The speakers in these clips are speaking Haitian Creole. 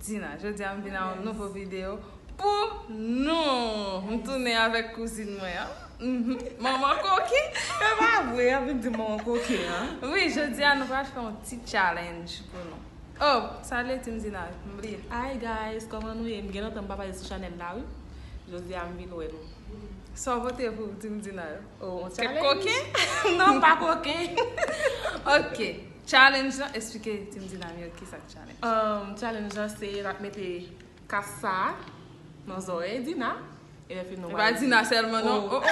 Dina, jodi a m vin a yon nouvo video pou nou! M tounen avèk kouzin mwen an. Manman koke! Se pa vre, y ap vin di manman koke an. Wi, jodi a nou pral fè yon ti challenge pou nou. Oh! Sa vle di m Dina, m bliye. Hi guys, kòman nou ye? M gen lontan m pa pase sou chanèl la wi. Jodi a m vin wè nou. Sa w pote pou di m Dina? Oh, yon challenge? Kèk koken? Non, pa koken. Ok, challenge lan, esplike ti m Dina m yo ki sa. Challenge lan se nap mete kas sa nan zòrèy Dina e lè fini nou pral. E pa Dina sèlman non oh oh.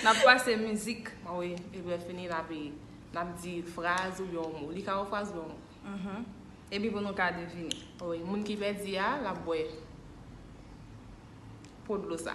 Nap pase mizik. Wi epi lè fini nap di fraz oubyen yon mo. Li ka yon fraz oubyen yon mo. Epi pou nou ka devine. Wi moun ki pèdi a lap bwè po dlo sa.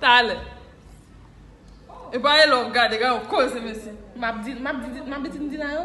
Talè E pa e lò gade gade koze mesye Map di map di map di ti m di la yo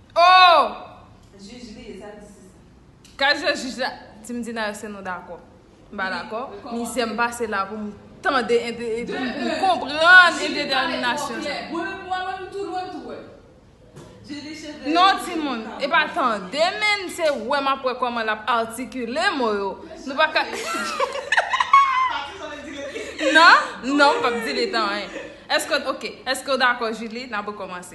Oh! Jij li ye sa li se sa. Kazè jij la Ti m di nan se nou dakò M pa dakò Mizè m pase la pou m tande pou m konprann endetèminasyon sa Mwen menm m tou lwen m tou wè Jij li chef de Non timoun E pa tande menn se wè m ap wè kòman l ap atikile mo yo Nou pa ka Pati sa w vle di rete Nan, non m p ap di l etan anyen Èske ok Èske w dakò Julie N ap rekòmanse.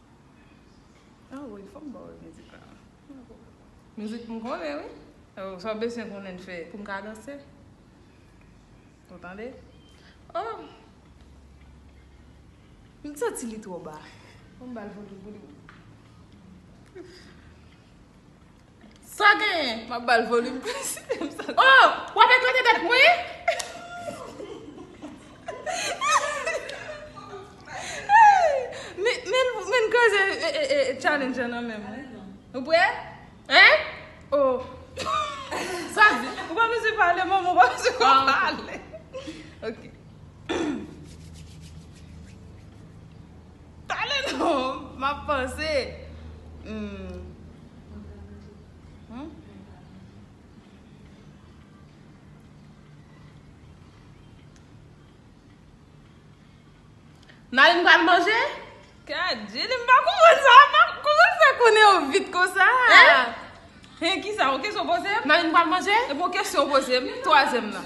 Ah oui, fòm baw e mizik la. Mizik m konnen wi. Oh, sa w besyen konnen fè pou m ka danse. Ou tande? Oh! M santi li twò ba. Fò m ba l volume pou li. Sa genyen? M ap ba l volim plis. O! W ap eklate tèt mwen? Men n kraze challenge an nan men m wi. Ou prè? Hein? O! Sa di? Ou pa mezi pale manman, ou pa mezi pale. Ok. Pale non! M ap panse. N ale n pral manje? Kadjili m pa konprann sa a non! Kouman sa konnen yo vit konsa? Hein? Kisa? Yon kesyon w poze m? N ale n pral manje? Epi yon kesyon w poze m? Twazyèm nan.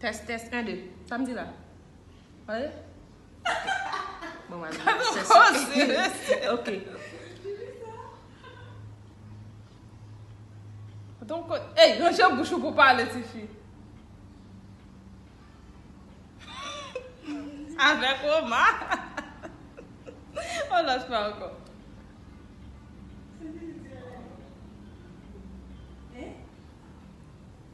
Test test 1 2 Sam di la Pale Bon wale Pale Ok Donk kon Ey ranje bouch ou pou pale ti fi Avek Roma On lot fwa anko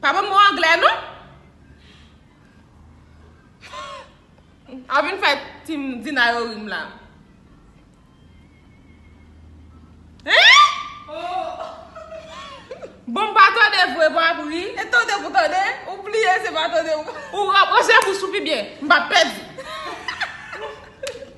Pa banm mo anglè non. Avin fè team Dina yo rim la. Bon m pa tande vre m ap ri. E tande pou tande. Ou bliye se pa tande ou. Ou rapwoche pou sou pi byen. M pa pèdi.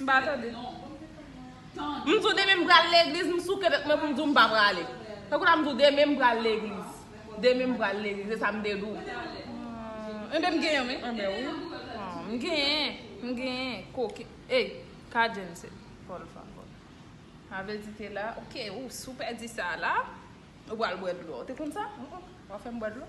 M pa tande non. M di w demen m pral legliz m souke tèt mwen pou m di w m pa prale. Tankou la m di w demen m pral legliz. Demen m pral legliz e sa m te di w. Enben m genyen wi. Enben wi. M genyen. M genyen. Koke. Ey. Kajen se. Pòl fè ankò. Avè di te la. Ok ou sou pèdi sa la. Ou pral bwè dlo. Ou te konn sa? Ou wap fè m bwè dlo?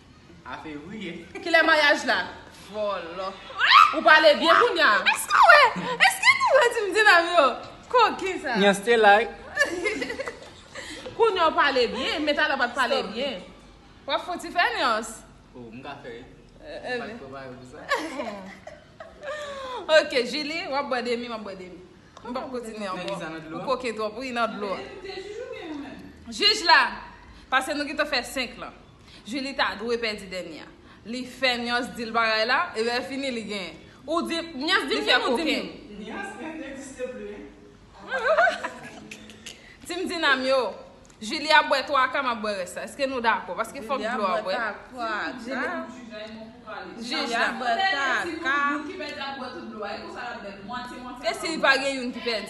Afe rie. Kilè maryaj la? Vòlò. Ou pale byen kounya. Eske ou wè? Eske nou wè ti mdinam yo? Koken sa. Nyan stay like. Kounya ou pale byen men talè ou pat pale byen. Wap fon ti fè nyans. Oh m ka fè wi. M pat prepare pou sa. Ok Julie wap bwè demi map bwè demi. M pap kontinye anko. Nèg sa nan dlo a. Ou koken twòp wi nan dlo a. Jij la. Pase nou gentan fè 5 lan. Julie ta dwe pèdi dènye a. Li fè nyans dil bagay la e lè fini li gen. Ou di nyans dim dim ou dim dim. Nyans menm n egziste pli hein. Team dinam yo Julie ap bwè 3 ka map bwè rès la eske nou dakò paske fòk dlo a bwè. Jij la bwè 3 ka. Esi li pa gen youn ki pèdi.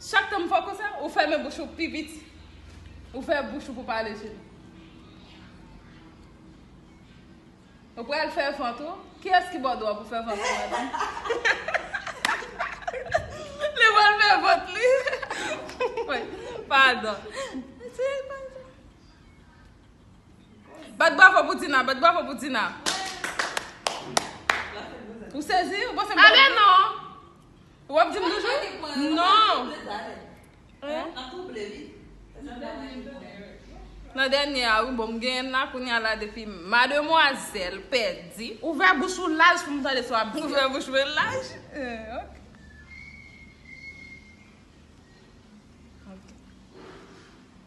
Chak tan m fè w konsa, ou fèmen bouch ou pi vit. Ou fè bouch ou pou pale je m. Ou pral fè vant ou. Kiyès ki ba w dwa pou fè vant ou madanm? Li pral fè vant li. Woy, padon. Bat bravo pou Dina, bat bravo pou Dina. Ou sezi? Ou panse m pral di w? Ale non! Wap dim toujou? Non! Nan dènye a wi bon m genyen la kounye a la depi mademwazèl pèdi. Ouvè bouch ou laj pou m tande sa w ap di. Ouvè bouch mwen laj? Ok.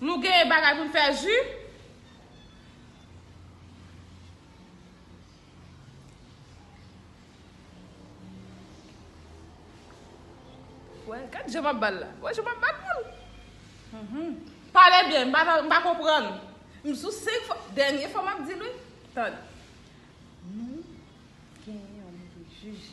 Nou gen bagay pou n fè ju. Wè, gad je map bal la. Wè je map bat moun. Mhm. Pale byen, m pa nan- m pa konprann. M sou 5 fwa, dènye fwa map di l wi. Tande. Nou gen yon moun ki jije.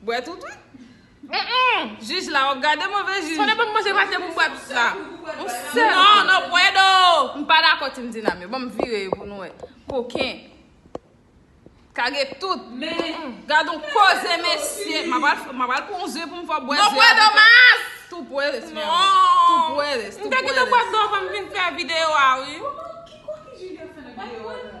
Bwè tout wi. Jij la wap gade move jij. Sonnen banm manje pase poum bwè tout sa. Yon sèl kou. Non no puedo. M pa dakò team Dinam yo. Banm vire yo pou nou wè. Koken. Kage tout. Gadon koze mesye. M ap al pran yon ze poum fè bwè ze. No puedo mas. Tou puedes mi amor. Tou puedes. M te gentan bwè dlo avan m vin fè video a wi. Ki koken Julia fè nan video a la.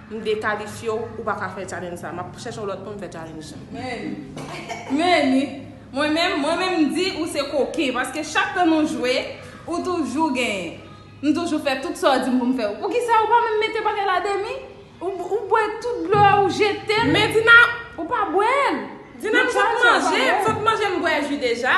M dekalifye w, ou pa ka fè challenge sa. Map chèche yon lòt moun fè challenge sa. Meni. Meni. Mwen menm, mwen menm m di ou se koken paske chak tan nou jwe, ou toujou genyen. M toujou fè tout sa w di m pou m fè. Poukisa ou pa menm mete bagay la demi? Ou bwè tout dlo a ou jete l. Men Dina. Ou pa bwè l. Dina m sot manje, m sot manje m bwè ji deja.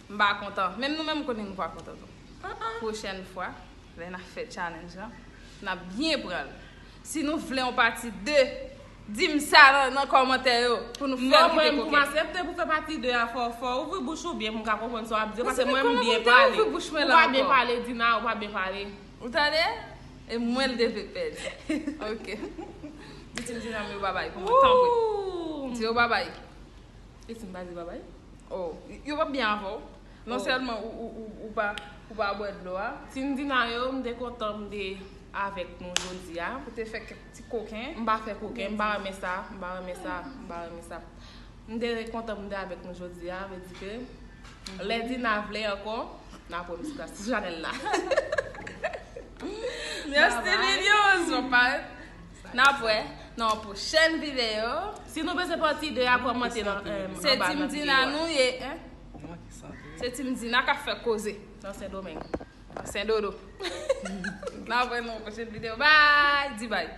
M pa kontan. Menm nou menm m konnen nou pa kontan tou. Pwochèn fwa, lè n ap fè challenge lan, n ap byen pran l. Si nou vle yon pati 2, di m sa nan kòmantè yo pou nou fè l kite kokenn. Non mwen, pou m asepte pou fè pati 2 a, fò w ouvri bouch ou byen pou m ka konprann sa w ap di yo. Paske mwen m byen pale. Ou pa byen pale Dina, ou pa byen pale. Ou tande? E mwen l te vle pèdi. Ok. Di ti m Dina m yo babay pou mwen, tanpri. Di yo babay. E si m pa di babay? Oh, yo pap byen avè w. Non sèlman ou pa bwè dlo a. Tindina yo, m te kontan m te avèk nou jodi a. Ou te fè kèk ti koken. M pa fè koken, m pa renmen sa, m pa renmen sa, m pa renmen sa. M te kontan m te avèk nou jodi a, vle di ke lè Dina vle ankò, n ap wè m sou plas, sou chanèl la. Merci Dina! Mwen pa. Nap wè nan yon pwochèn video. Si nou bezwen pati 2 a kòmante nan anba nan video a. Se team Dina nou ye hein. Se team Dina kap fè koze nan sendomeng. Nan sendodo. Nap wè nan yon pwochèn video bye di bye.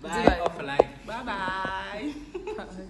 Bye of life. Bye bye.